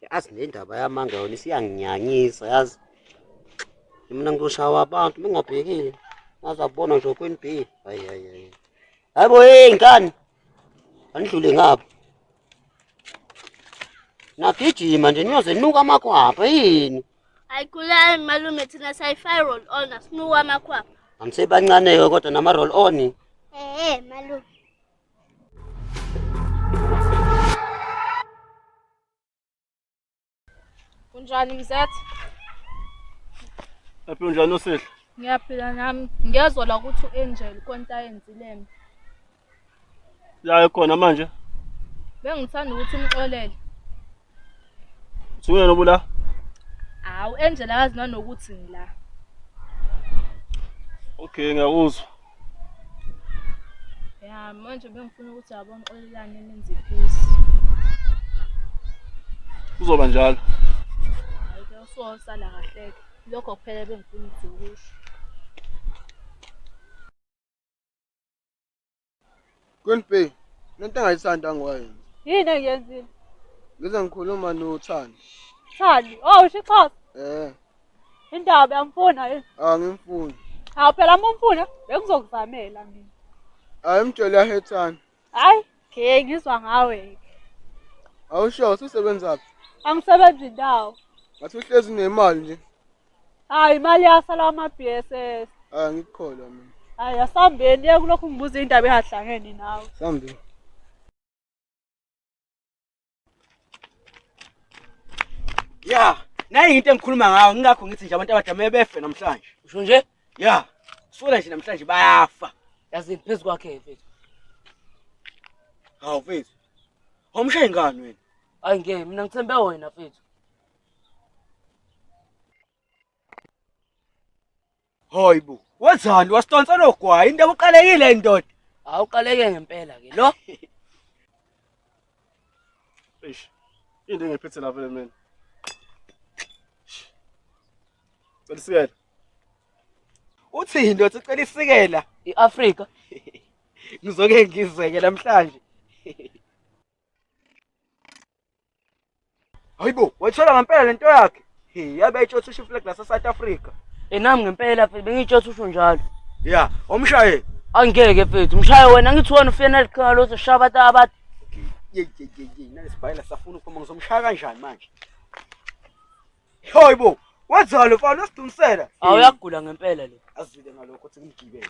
yazi le ndaba yamanga yona isiyanginyanyisa yazi mina ngizoshawa abantu mingabhekile ngaza kubona nje kweni b hayi hayi hayi hayi bo hey ngani andidlule ngapha nagijima nje niyoze nuka amakhwapha yini ayikulali malume thina sayi-fire roll on asinuka amakhwapha angisebancane-ke kodwa nama-roll on ehe malume Unjani mzethe? Aphi unjani usihle? Ngiyaphila nami. Ngiyezwa la ukuthi u-Angel konta yenzileme. La ekhona manje? Bengithanda ukuthi umxolele. Suyena obula? Hawu Angela akazi nanokuthi ngila. Okay ngiyakuzwa. Ya manje bengifuna ukuthi yabona xolelane nenze peace. Kuzoba njalo. Hayi ke usosala kahle ke. Lokho kuphela bengifuna ukukusho. Queen B, lento engayithandi angiwayenzi. Yini engiyenzile? Ngize ngikhuluma noThandi. Thandi, oh usho iXhosa. Eh, Indaba yamfuna yini? angimfuni. Hawu phela uma umfuna bengizokuzamela mina. Ayimtshele yahethani. Hayi, ke ngizwa ngawe. Awusho usebenzaphi? Angisebenzi ndawo. Ngathi uhlezi nemali nje. Hayi imali yasala ama-BSS. Ah ngikukholwa mina. Hayi asambeni ye kulokhu ngibuza indaba ehahlangeni nawe. Sambi. Ya, nayi into engikhuluma ngayo ngingakho ngithi nje abantu abadala mele befe namhlanje. Usho nje? Ya. Sola nje namhlanje bayafa. Yazi phezu kwakhe mfethu. Hawu mfethu. Awumshayi ngani wena? Hayi ngeke mina ngithembe wena mfethu. Hayi bo, wenzani wasitonsa nogwayi into ekuqalekile indoda. Awuqaleke ngempela ke lo. Eish. Into engiphethe la vele mina. Cela isikela. Uthini ndoda ucela isikela? IAfrika. Ngizoke ngizeke namhlanje. Hayibo, wayithola ngempela lento yakhe. Hey, yabe ayitshotha usho flag la South Africa. Enami ngempela phela bengitshotha usho njalo. Yeah, omshaye. Angeke mfethu, mshaye wena ngithi wena ufena liqhinga lotho shaba abantu. Yey yey yey, nalesibhayela safuna ukuphuma ngizomshaya kanjani manje? Hayibo, wenzalo mfana usidumsela. Awuyagula ngempela le. Azwile ngalokho ukuthi ngimgibele.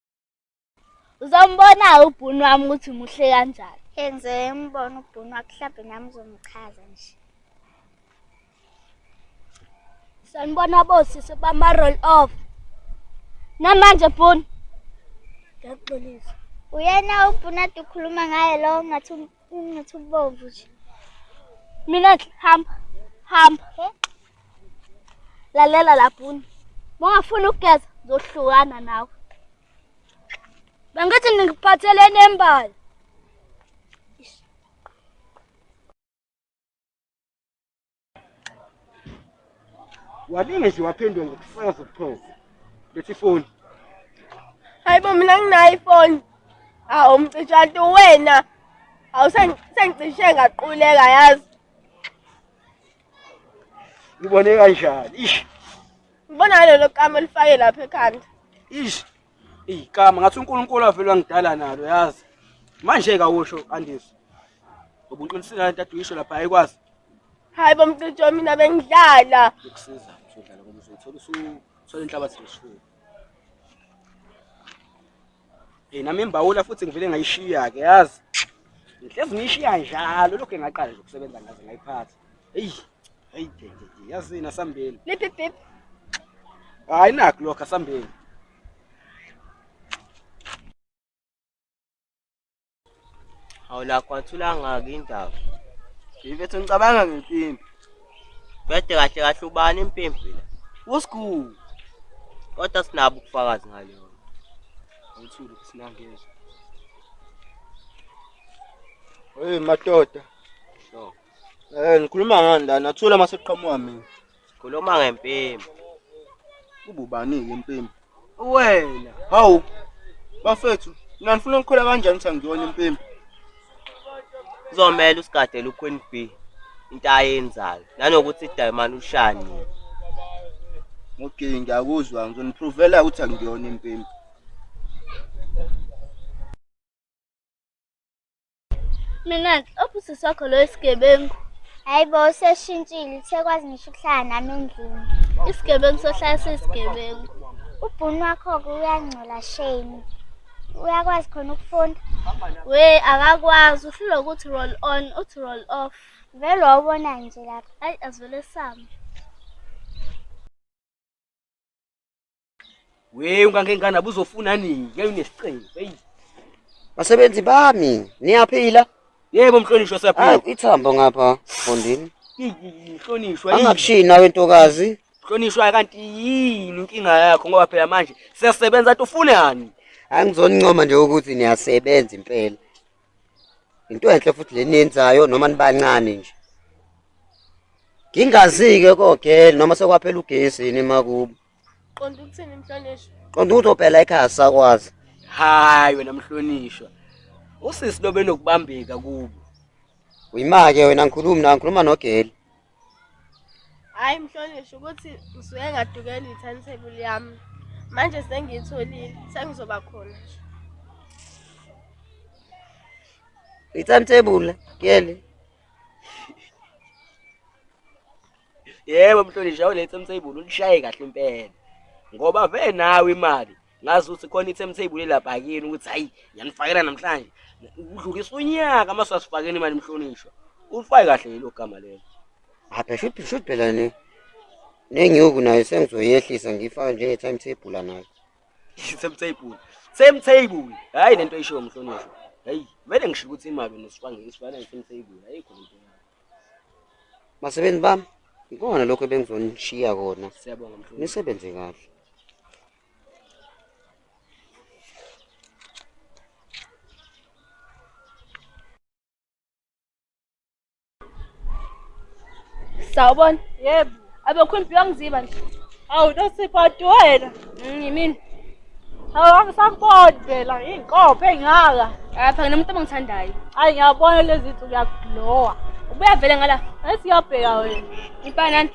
Uzombona ubhunu wami ukuthi muhle kanjani. Enze umbona ubhunu wakhe mhlawumbe nami uzomchaza nje. Sanibona bosisi bama roll off. Namanje bhunu. Ngiyaxolisa. Uyena ubhunu ade ukhuluma ngaye lo ngathi Ngathi ubomvu nje. Mina hamba hamba. Lalela laphuni. Mongafuna ukugeza zohlukana nawe. Bengithi ngikuphathele nembali. walinge nje waphendula ngokusanga zobuchopho lethi ifoni hayi bo mina nginayo ifoni hawu mcitshantu wena hawu sengicishe ngaquleka yazi ngibone kanjani ish ngibona ngalelo kama elifake lapha ekhanda ish Eyi kama ngathi uNkulunkulu avele wangidala nalo yazi. Manje kawusho Andisi. Ngoba uqinisile lento aduyisho lapha ayikwazi hayi bomcijo mina bengidlala ukusiza uzodlala ngoba uzothola usuthola inhlabathi leshuku. Eh nami imbawula futhi ngivele ngayishiya ke yazi. Ngihlezi ngiyishiya njalo lokho engaqala nje ukusebenza ngaze ngayiphatha. Eyi, hayi ke ke ke, yazini asambeni. Liphi bib? Hayi nakho lokho asambeni. Hawu la kwathula ngaki indaba. Ngifethu ngicabanga ngempimpi. Bede kahle kahle ubani impimpi la? Usikhulu. Kodwa sinabo ubufakazi ngaleyo. Awuthuli sinangezwe. Hey madoda, Sho. Eh ngikhuluma ngani la nathula uma sekuqhamuka mina. Khuluma ngempimbo. Ububani-ke impimbo? Wena. Hawu. Bafethu, mina ngifuna ukukhola kanjani ukuthi angiyona impimbo? Kuzomele usigadele uQueen B into ayenzayo nanokuthi idayimani ushani. Okay, ngiyakuzwa ngizoniprovela ukuthi angiyona impimbo. Mina-ke obusisi wakho loyo isigebengu. Hayi bo useshintshile usekwazi ngisho ukuhlala nami endlini. Isigebengu sohlala sesigebengu. Ubhuni wakho-ke uyangcola shame. Uyakwazi khona ukufunda? We akakwazi uhlulwa ukuthi roll on uthi roll off. Vele wawubona nje lapha. Hayi asivele same. Weyi ungangenkana buzofuna nini? Ngeke unesiqingo. Hey. Basebenzi bami, niyaphila? Yebo mhlonishwa siyaphila. Hayi ithambo ngapha fondini. Mhlonishwa. Angakushiyi nawe ntokazi. Mhlonishwa kanti yini inkinga yakho ngoba phela manje siyasebenza athi ufune yani? Angizonincoma nje ukuthi niyasebenza impela. Into enhle futhi leniyenzayo noma nibancane nje. Ngingazike kogel noma sekwaphela ugesi yini makubo. Qonda ukuthini mhlonishwa? Qonda ukuthi ophela ekhaya sakwazi. Hayi wena mhlonishwa. Usisi lobe nokubambeka kubo. Uyimake wena ngikhulumi na ngikhuluma nogeli. Hayi mhlonishwa ukuthi ngisuke ngadukela i-timetable yami. Manje sengiyitholile, sengizoba khona. I-timetable geli. yebo mhlonishwa awulethe umthebuli ulishaye kahle impela ngoba ve nawe imali ngazi ukuthi khona i-timetable elapha kini ukuthi hhayi ngiyanifakela namhlanje udlulisa unyaka uma sasifakeni imali mhlonishwa ulifake kahle yilo gama lelo apha shuthi shuthi phela ne nenyuku nayo sengizoyehlisa ngifake njenge-timetable nayo timetable timetable hhayi le nto ishiwo mhlonishwa hhayi kumele ngisho ukuthi imali unesifane isifane timetable ayikho le nto Basebenzi bami, ikona lokho ebengizonishiya kona. Siyabonga mfowethu. Nisebenze kahle. Sawubona. Yebo. Abekhulumbi wangiziba nje. Awu nosipho wena. Yimini. Hawu angisakuboni phela iy'nkophe ey'ngaka. Hhayi phela nomuntu abangithandayo. Hhayi ngiyabona lezi nsuku uyakulowa. Ubuya vele ngala. Esiyabheka wena. Impela nani?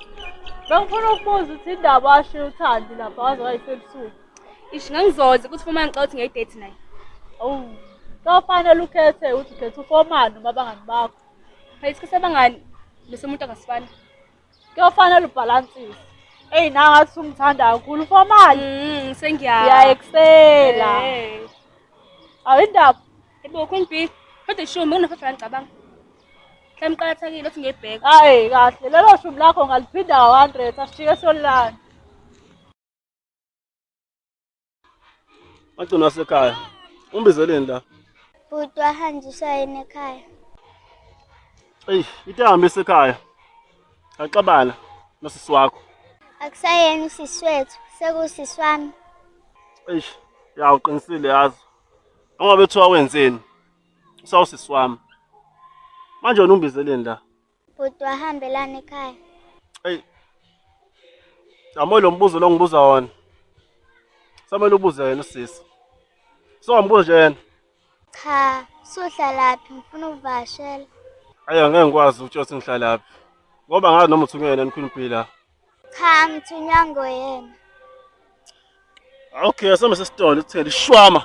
Bengifuna ukubuza ukuthi indaba washiya uthandi lapha waze wayisebusuku. Ish ngangizoze ukuthi uma ngicela ukuthi ngiyidate naye. Awu. Kofanele ukhethe ukuthi ukhetha ufomani noma abangani bakho. Phela isikhathi abangani bese umuntu angasifani. kuyofanele ubhalansise eyi nangathi ungithanda kakhulu ufamali Mm, sengiya. ngiyayekusela Eh. awindaba Yebo Queen B. Kodwa ishumi unofafela ngicabanga. Hla mqakathekile ukuthi ngiyibheka. hayi kahle lelo shumi lakho ngaliphinda ka-hundred asijike solilanda Agcina wasekhaya. Umbizeleni la? Bhuti wahanjiswa yena ekhaya. Eyi, into ehambe isekhaya. Axabana nosisi wakho. Akusayena usisi wethu, sekusisi wami. Eish, ya uqinisile yazi. Ngoba bethiwa wenzeni? Usawusisi wami. Manje wena umbizeleni la? Bhuti wahambelana ekhaya. Eyi. Yamo lo mbuzo lo ngibuza wona. Samele ubuze yena usisi. So ngibuze nje yena. Cha, suhlalaphi ngifuna ukuvashela. Ayi angeke ngikwazi ukutshela ukuthi ngihlalaphi. Ngoba ngazi noma uthunywe yena enikhulu impila. Cha, ngithunywa ngoyena. Okay, asome sesitolo sithele ishwama.